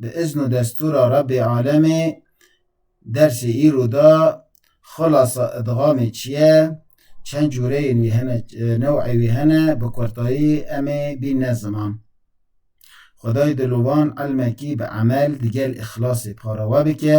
Bi izn û destûra Rebbê alemê dersê îro de xulasa idgamê çi ye, çend cûreyên wî hene, new'ê wî hene bi kurtayî em ê bînne ziman. Xwedayê dilovan ilmekî bi emel digel îxlasê para we bike.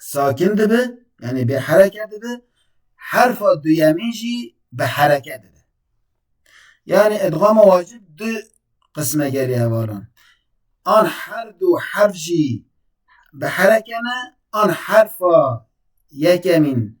sakin dibe yani bê hereke dibe herfa duyemîn jî bi hereke dibe yani edgama wacib du qisme gelê hevalan an her du herf jî bi hereke ne an herfa yekemîn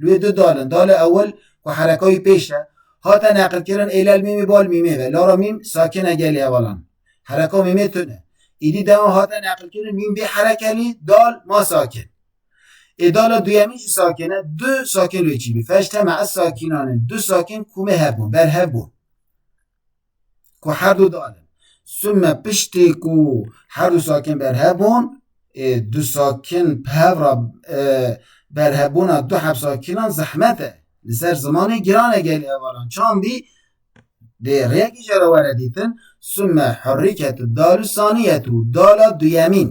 Li wê du dal in. Dala ewil ku hereka wî pêş e, hate neqilkirin ê lel mîmê bal mîmê ve. Lara mîm sakin e gelê hevalan. Hereka mîmê tund e. Îdî dewan hate neqilkirin mîm bê hereke lî dal ma sakin. Ê dala duyemîn jî sakin e, du sakin li wê çî bî. Feşteme ez sakinan in. Du sakin ku me hebûn, berhev bûn. ku her du dal in. Sûmme piştî ku her du sakin berhev bûn, ê du sakin bi hev re berhevbûna du hevsakinan zehmet e. Li ser zimanê giran e gelê hevalan çand bî dê rêyekî jê re were dîtin, sûmme herî ket dal û sanî ye tu dala duyemîn.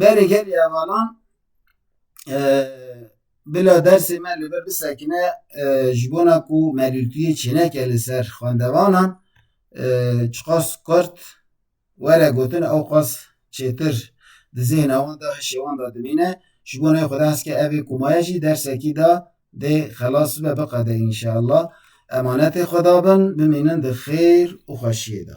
Berê gelê hevalan bila dersê me li vir bisekine ji bona ku melûtiyê çêneke li ser xwendevanan çiqas kurt were gotin ew qas çêtir di zêhna wan de hişê wan de dimîne ji bo navê Xweda hezke evê kumaye jî dersekî de dê xelas bibe biqede înşeallah emanetê Xweda bin bimînin di xêr û xweşiyê de.